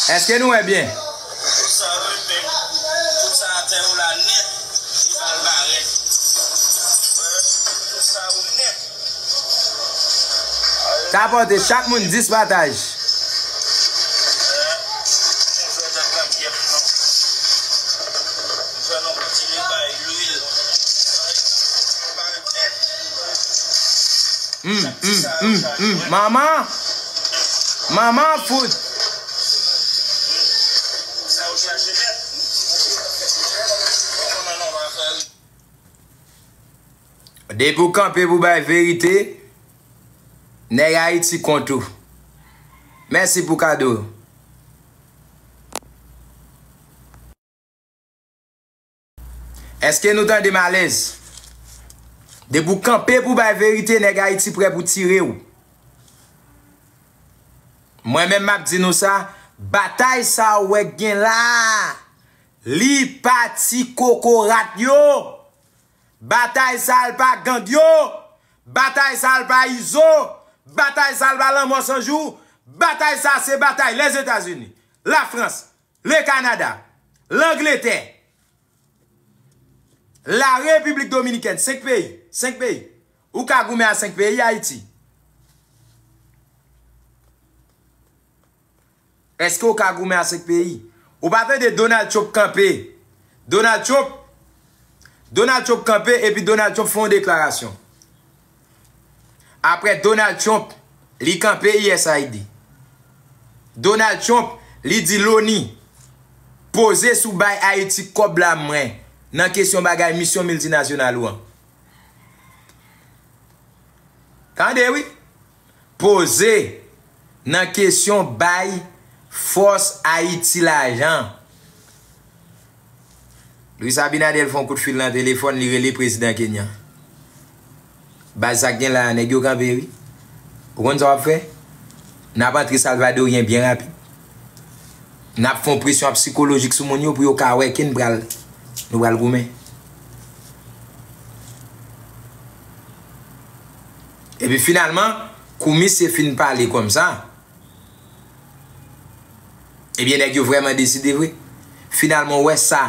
Eske nou wè byen? Tapote chak moun 10 pataj. Humm humm humm humm mama mama fout. Depi w kanpe pou bay verite nèg ayiti kont ou mèsi pou kado yo. Eske nou tandem alez. Depi w kanpe pou bay verite neg ayiti prè pou tire w. Mwen menm map di nou sa, batay sa w wè k gen la a, li pa ti kokorat yo, batay sa l pa gang yo, batay sa l pa izo, batay sa l pa lanmò san jou, batay sa se batay Lèzetazini, Lafrans, Le Canada, Langletè, La Repiblik Dominikèn, 5 peyi, 5 peyi. Ou ka goumen a 5 peyi, Ayiti. Eske ou ka goumen a 5 peyi? Ou pa tande Donald Trump kanpe, Donald Trump, Donald Trump kanpe epi Donald Trump fè yon deklarasyon. Aprè Donald Trump li kanpe usaid. Donald Trump li di loni poze sou bay Ayiti kòb la mwen nan kesyon bagay misyon miltinasyonal ou an. Tande wi. Poze nan kesyon bay fòs Ayiti lajan. Luis Abinader fon kout fil nan telefòn li rele prezidan Kenyan. Baz sak gen la nèg yo kanpe wi. Ou konn sa wap fè? Nap antre salvadoryen byen rapid. Nap fon presyon ap sikolojik sou moun yo pou yo ka wè kin pral nou pral goumen. Epi finalman, kou misye fin pale kòm sa, ebyen nèg yo vrèman deside vre. Finalman ou wè sa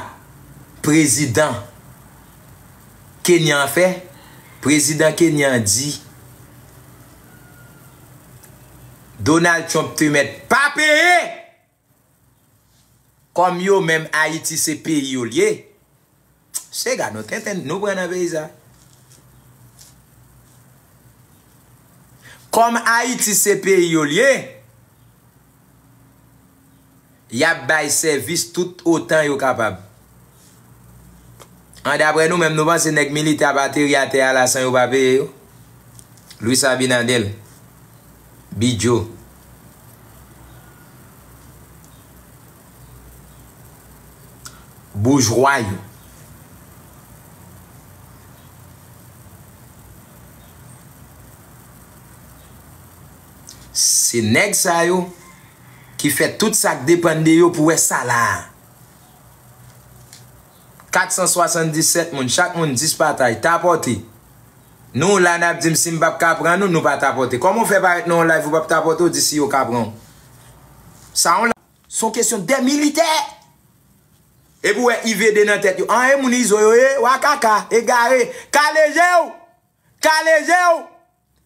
prezidan Kenyan an fè? Prezidan Kenyan an di Donald Trump te mèt pa peye! Kòm yo menm ayiti se peyi yo liye se ga nou tenten nou pran nan peyi sa kòm ayiti se peyi yo liye yap bay sèvis tout otan yo kapab An daprè nou menm nou panse nèg militè ap ateri atè a la san yo pa peye yo? Luis Abinader, Bidjo. Boujwa yo. Se nèg sa yo ki fè tout sa k depann de yo pou wè sa la a. 477 moun, chak moun 10 patay, tapote. Nou w la nap dim si m pap ka pran nou, nou pa tapote. Koman w fè parèt nan yon live ou pap tapote ou di si yo ka pran w. Sa yon. Se yon kesyon de militè! Epi w wè IVD nan tèt yo. An e moun izo yo ye, wa kaka, egare. Kale je w! Kale je w!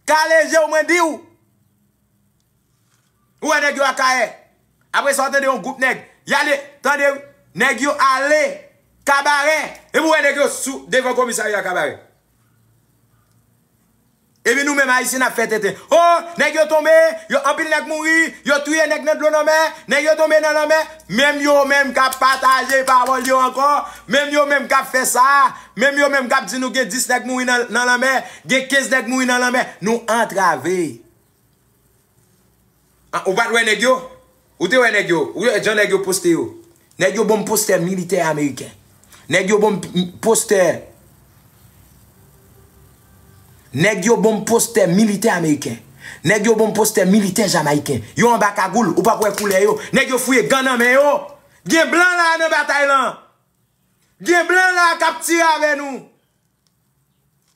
Kale jew mwen diw. Ou wè nèg yo akayè. Apresa ou tande yon group nèg. Yale tande wi. Nèg yo ale kabarè. Epi ou wè nèg yo sou devan komisarya kabarè. Epi nou menm ayisyen nap fè tenten. Oh nèg yo tonbe. Yo anpil nèg mouri. Yo touye nèg nan dlo nan mè. Nèg yo tonbe nan lanmè. Menm yo menm kap pataje pawòl yo ankò. Menm yo menm kap fè sa. Menm yo menm kap di nou gen 10 nèg mouri nan lanmè, gen 15 nèg mouri nan lanmè, nou antrave. Ou pat wè nèg yo? Ou te wè nèg yo? Ou wè jan nèg yo poste yo? Nèg yo banm postè militè ameriken. Nèg yo banm postè Nèg yo banm postè militè ameriken. Nèg yo banm postè militè jamayiken. Yo anba kagoul, ou pap wè koulè yo. Nèg yo fouye gan nan men yo. Gen blan la nan batay lan. Gen blan la kap tire avè nou.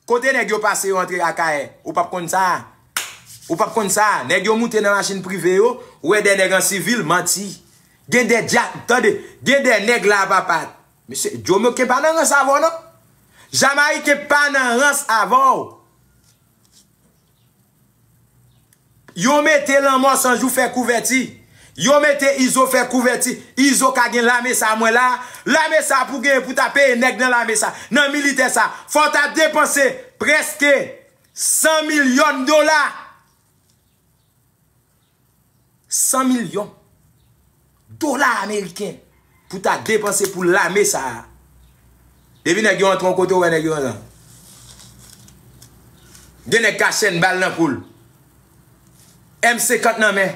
Kote nèg yo pase yo antre akayè ou pap konn sa ou pap konn sa nèg yo moute nan machin prive yo wè dè nèg an sivil manti gen dè dyak tande gen dè nèg la papa mesye jomoken pa nan rans avèw non jamayiken pa nan rans avèw. Yo mete lanmò san jou fè kouvèti yo mete izo fè kouvèti izo ka gen lame sa mwen la lame sa pou gen pou ta peye nèg nan lame sa nan militè sa fò ta depanse prèske 100 milyòn dola. 100 milyon dola ameriken pou ta depanse pou lame sa a. Depi nèg yo antre yon kote ou wè nèg yo anlan. Gen nèg ka chèn bal nan koul. M50 nan men.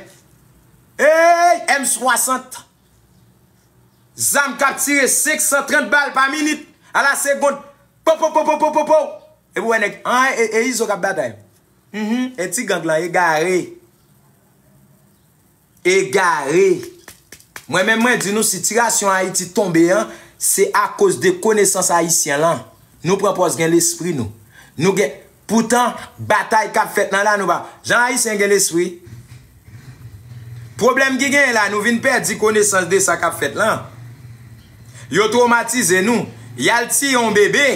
Eyy M60. Zam kap tire 530 bal pa minit. A la segond. Popopopopopopow. Epi ou wè nèg an e izo kap batay. Uhmm e ti gang lan egare. Egare. Mwen menm mwen di nou sitirasyon ayiti tonbe an se akoz de konesans ayisyen lan. Nou pran pòz gen lespri nou. Nou gen poutan batay kap fèt nan la nou pa. Jan ayisyen gen lespri. Pwoblèm ki genyen la nou vin pèdi konesans de sa kap fèt lan. Yo twomatize nou, yal tiye yon bebe,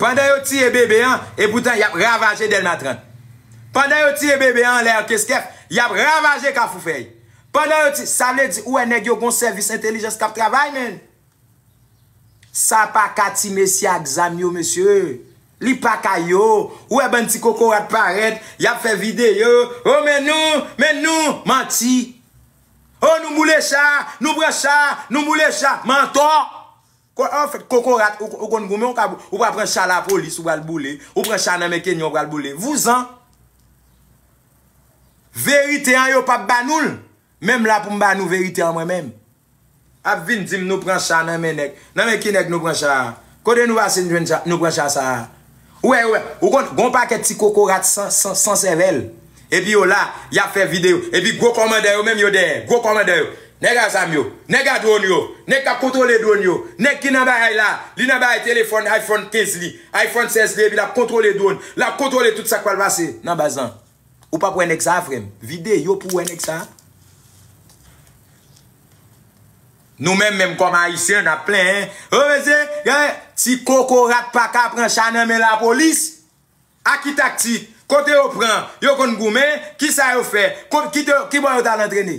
pandan yo tiye bebe an, epoutan yap ravaje Dèlma 30. Pandan yo tiye bebe an anlè Ankeskèf, yap ravaje Kafoufèy. Pandan yo tiye, sa vle di ou wè nèg yo gon sèvis entelijans kap travay menn. Sa paka ti mesye ak zam yo mesye. Li paka yo, ou wè bann ti kokorat parèt, yap fè videyo, oh men nou, men nou, manti. Oh nou boule cha, nou pran cha, nou boule cha, mantò. An fèt kokorat ou konn goumen ou pral pran cha lapolis ou pral boule, ou pran cha nan men kenyan ou pral boule, vouzan. Verite an yo pap ba nou l, menm la pou m ba nou verite an mwen menm. Ap vin dim nou pran cha nan men nèg. Nan men ki nèg nou pran cha a? Kote nou pase nou jwenn cha, nou pran cha sa a? Ou wè yo, ou konn gon pakèt ti kokorat san, san, san sèvèl. Epi yo la, y'ap fè videyo. Epi gwo kòmandan yo menm yo dèyè, gwo kòmandan yo. Nèg a zam yo, nèg a dwon yo, nèg k'ap kontwole dwon yo, nèg ki nan bagay la, li nan bagay telefòn iPhone 15 li, iPhone 16 li epi l'ap kontwole dwon, l'ap kontwole tout sa k' pral pase nan baz lan. Ou pap wè nèg sa frèm. Vidéo pou wè nèg sa. Nou menm menm kòm ayisyen nap plenyen oh mesye gen ti kokorat paka pran cha nan men lapolis a ki taktik kote yo pran yo konn goumen kisa yo fè kont kibò yo tal antrene.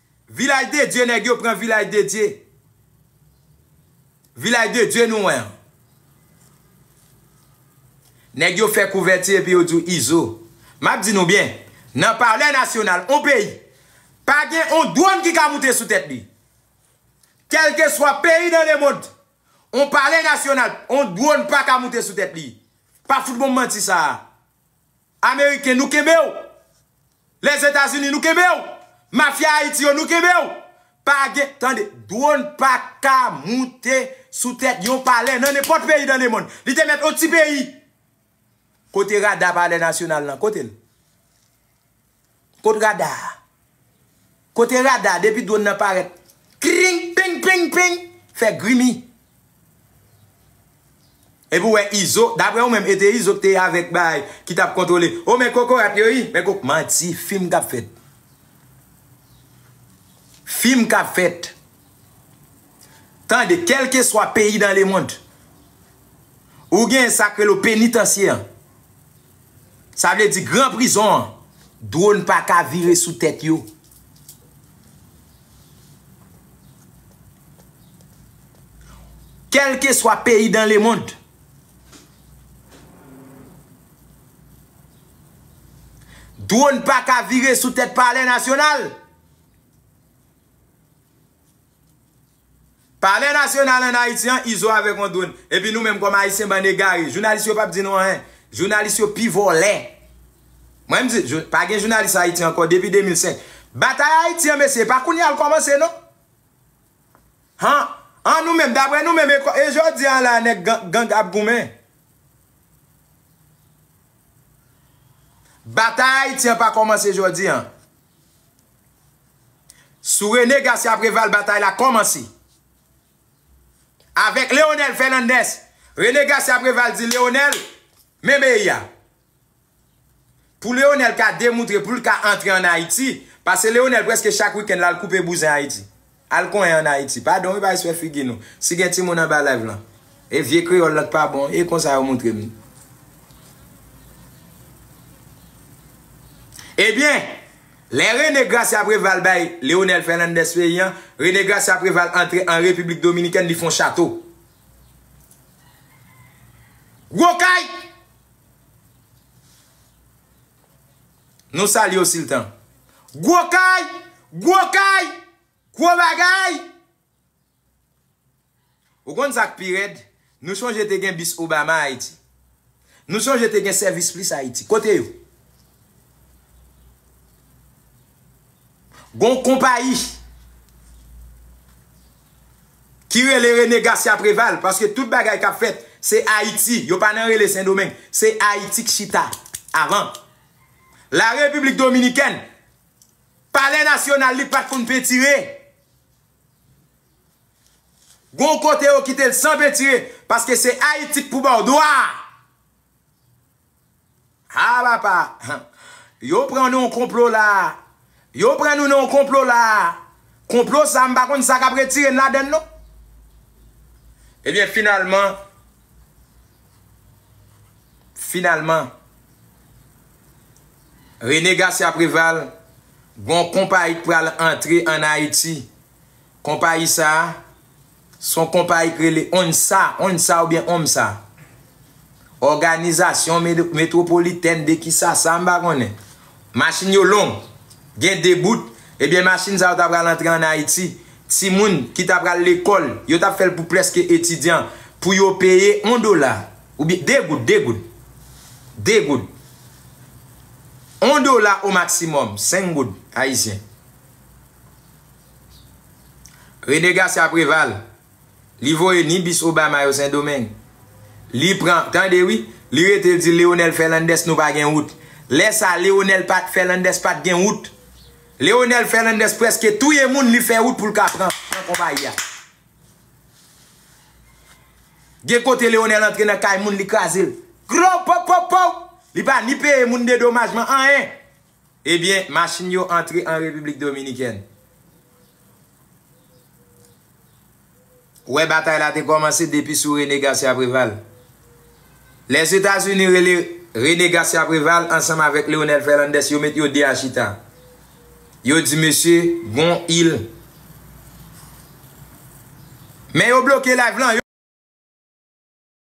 Vilaj de Dye nèg yo pran vilaj de Dye vilaj de Dye nou wè an nèg yo fè kouvèti epi yo di w izo map di nou byen nan palè nasyonal on peyi pa gen on dwòn ki ka moute sou tèt li kèlkeswa peyi nan lemond on palè nasyonal on dwòn pa ka moute sou tèt li pa fout bon manti sa ameriken nou kenbe w. Les Etats Unis nou kenbew. Mafia Haiti yo nou kenbew. Pa gen tande drone pa ka moute sou tèt yon palè nan nenpòt peyi dan le mond. Li te mèt on ti peyi. Kote rada palè nasyonal lan kotel. Kot rada a. Kote rada depi drone nan paret kring ping ping ping fe grimi. Epi ou wè izo, daprè ou menm e te izo ki te avèk bay ki tap kontwole. Oh men kokorat yo ui, men kok manti, film kap fèt. Film kap fèt. Tande kelkeswa peyi dan lemond. Ou gen sak rele w penitansye an. Sa vle di gran prizon an drone paka vire sou tèt yo. Kelkeswa peyi dan le mond. Drone paka vire sou tèt palè nasyonal. Palè nasyonal an Ayiti an Izo avèk yon dwonn epi nou menm kòm Ayisyen bann egare jounalis yo pap di nou anyen jounalis yo pi vòlè mwen m di pa gen jounalis Ayiti ankò depi 2005 batay Ayiti an mesye e pa kounya l kòmanse non han an nou menm daprè nou menm e jodi an la nèg gang ap goumen batay Ayiti an pa kòmanse jodi an. Sou René Garcia Préval batay la kòmanse. Avèk Leonel Fernandez, René Garcia Préval di Leonel, men beyi a. Pou Leonel ka demoutre pou l ka antre an Ayiti, pase Leonel prèske chak wikenn l al koupe bouzen Ayiti. Al konyen an ayiti. Padon wi bay swè figi nou. Si gen timoun anba live lan. E vye kreyol lan t pa bon e konsa yo moutrem li. Ebyen Lè Rene Gracia Preval bay Leonel Fernandez peyi an, Rene Gracia Preval antre an Repiblik Dominikèn li fè yon chato. Gwo kay! Nou salye w siltan. Gwo kay! Gwo kay! Gwo bagay! Ou konn sa k pi rèd? Nou sonje te gen bis Obama Ayiti. Nou sonje te gen Sèvis Plis Ayiti. Kote yo? Gon konpayi. ki rele Rene Gasya Preval paske tout bagay kap fèt se Ayiti yo pa nan rele Sendomeng se Ayiti k chita avan la Repiblik Dominikèn palè nasyonal li pat konn pentire gon kote yo kitel san pentire paske se Ayiti k pou baw dwa. Haa papa Yo pran nou nan konplo la Yo pran nou nan konplo la Konplo sa m pa konn sa k ap retire n ladan l non Ebyen finalman Finalman Rene Garcia Preval Gon konpayi k pral antre an Ayiti. Konpayi sa a, se yon konpayi ki rele ONSA, Onsa oubyen Omsa, Òganizasyon Metwopolitèn de Kisasa, m pa konnen. Machin yo long, gen 2 bout, ebyen machin sa yo ta pral antre an Ayiti, timoun ki ta pral lekòl, yo t ap fè l pou prèske etidyan, pou yo peye yon dola, oubyen 2 goud, 2 goud, 2 goud, yon dola omaksimòm, 5 goud ayisyen. Rene Garcia Preval, li voye ni bis Obama yo Sendomeng. Li pran, tande wi, li rete di Leonel Fernandez nou pa gen wout. Lè sa Leonel Fernandez pat gen wout. Leonel Fernandez preske touye moun li fè wout pou l ka pran konpayi a. Gen kote Leonel antre nan kay moun li kraze l. Gro pow pow pow! Li pa ni peye moun dedomajman anyen. Ebyen machin yo antre an Repiblik Dominikèn. Wè batay la te kòmanse depi sou René Garcia Préval. Lèzetazini rele René Garcia Préval ansanm avèk Leonel Fernández yo met yo 2 a chita. Yo di mesye gon il. Men yo bloke live lan.